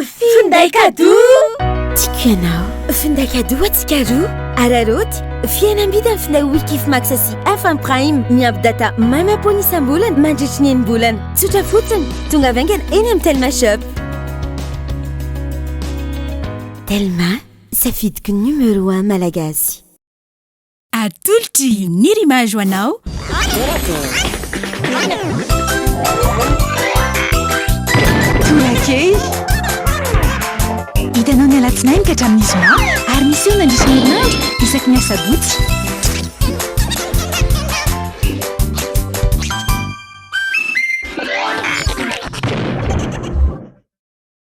Finday kadoa! Tiako ianao. Finday kadoa antsika roa. Araraoty, fihenam-bidy amin'ny finday Wikifimax sy FM Prime. Miampy data manam-pony isam-bolana mandritry ny enim-bolana. Tsotra fotsiny. Tonga avy haingana eny amin'ny Telma Shop. Telma, safidiko numéro un Malagasy. Atolotry ny Rimage ho anao. Tolakely. Hitanao ny alatsinainy ka hatramin'ny zoma ary miseho mandritra ny herinandro isaky ny asabotsy.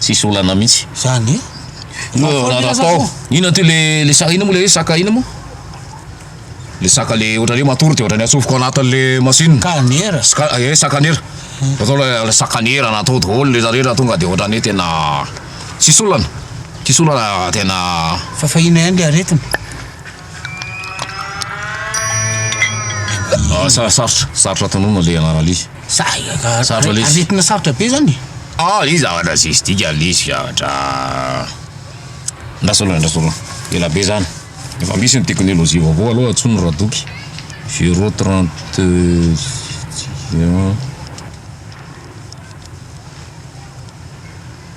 tsisy olana mihitsy. Zany e. Inona ty le le saka inona mo le hoe saka inona mo? Le saka le ohatrany hoe matory de ohatrany atsofoka ao anatin' le machine. Kanera. Ska e sakanera. Atao le sakanera na atao daholo le rehetra tonga de ohatrany hoe tena tsisy olana. Tsisy olana tena. Fa fahiny ihany le aretina. Asa sarotra, sarotra tononina ilay anarana Lisy. Sarotra Lisy. Aretina sarotra be zany e. Ah Lisy zavatra tsisy dikany Lisy zavatra andraso aloha andraso aloha ela be zany efa misy ny teknolojia vaovao aloha antsoina radoky zero trente un.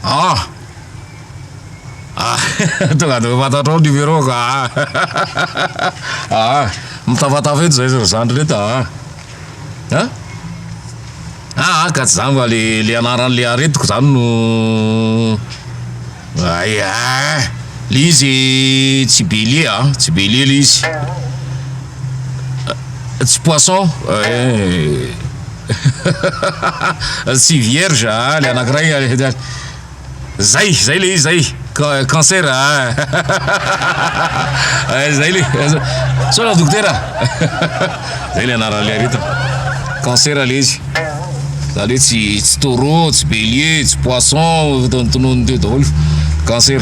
Ah! Ah! Tonga dia fantatrao ny numéro-ko ah! Ah! Mitafatafa eto izay sy ny zandriny eto ah! Ah! Ah! Ka tsy izany va le le anaran'le aretiko izany no ay ah! Le izy tsy Belie ah, tsy Belie le izy. tsy poisson eh. tsy vierge ah le anankiray ah, zay zay le izy zay cancer ah. eh, zay le sona dokotera zay le anaran'le aretina cancer le izy zany hoe tsy tsy taureau tsy bélier tsy poisson tonon'ny teo daholo cancer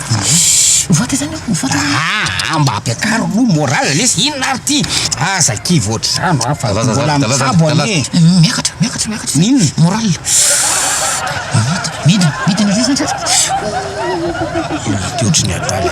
Mivôta zany aho, mivôta zany aho. Aa mba ampiakaro aloha morale lesy, inona ary ty? Aza kivy ohatr'izany hoa fa mbola mitsabo anie e! Miakatra, miakatra, miakatra zay Inona? morale. Midina, midina, midina, midina. Inona ty ohatry ny adala.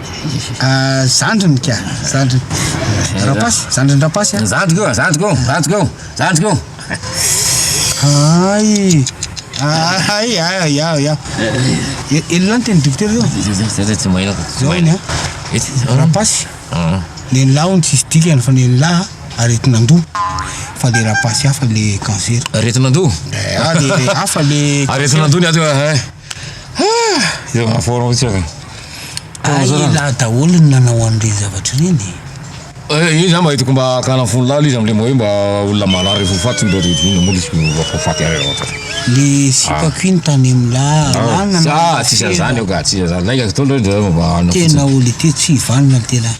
Ah, zandriny ka, zandriny. Eh, Rapasy, zandriny Rapasy. Ah. Zandriko, ah, zandriko, zandriko, zandriko. Ay. Ay, ay, ya, ya. Elona ny teny dokotera io. Zay tsy mahina ko. Tsy mahina. Rapasy. Ny lahy hono tsisy dikany fa ny lahy aretin'andoha fa le rapasy hafa le cancer. Aretin'andoha. Eh, ah, le hafa le. Aretin'andoha ny ato. Eh. Elah daholo ny nanao an'ireny zavatra ireny e. Io zany mba hitako mba hakana fo lalina izy amin'ilay hoe mba olona marary efa ho faty mba revy moa izy mba ho faty ary anao zany. Le sipako iny tany amin'ny lalana. Za tsy isan'izany io ka, tsy isan'izany, lainga fotoana reo de mba hanao fotsiny. Tena olona ity tsy hivanona ity lahy.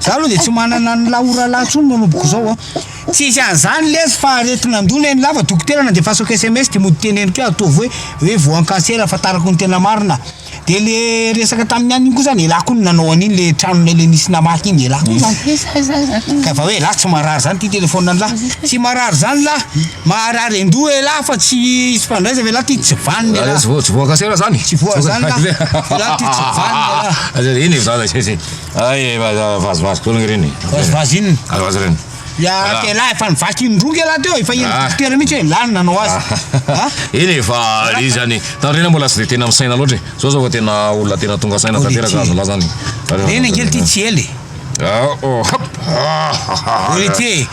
Za aloha dia tsy manana ny la orala intsony manomboka izao a. Tsisy an'izany lesy fa aretin'andoha ny an'ila fa dokotera nandefasako sms dia mody teneniko hoe ataovy hoe hoe voan'ny cancer ahafantarako ny tena marina. Dia le resaka tamin'ny anona iny koa zany elah koa no nanao an'iny le tranonay le nisy namaky iny elah koa zany. Ka fa hoe elah tsy marary zany ty telephone an'lah. Tsy marary zany lah. Maharary andoha elah fa tsy hisy fandraisana elah ty tsy vanona elah. Tsy voan'ny cancer zany? Tsy voa zany lah. Elah ty tsy vanona elah. Eny e. Ay vazivazy koa ny reny. Vazivazy inona? Vazivazy reny. Ya ke lahy efa nivaky indroa ke lahy teo, efa iny dokotera mihitsy hoe lany nanao azy. Ah. Eny e fa le zany tandrena mbola tsy de tena misaina loatra e. Zao zao vao tena olona tena tonga saina tanteraka azo laza ny. Reny angely ty tsy ela e. Ah oh hop. Olitier.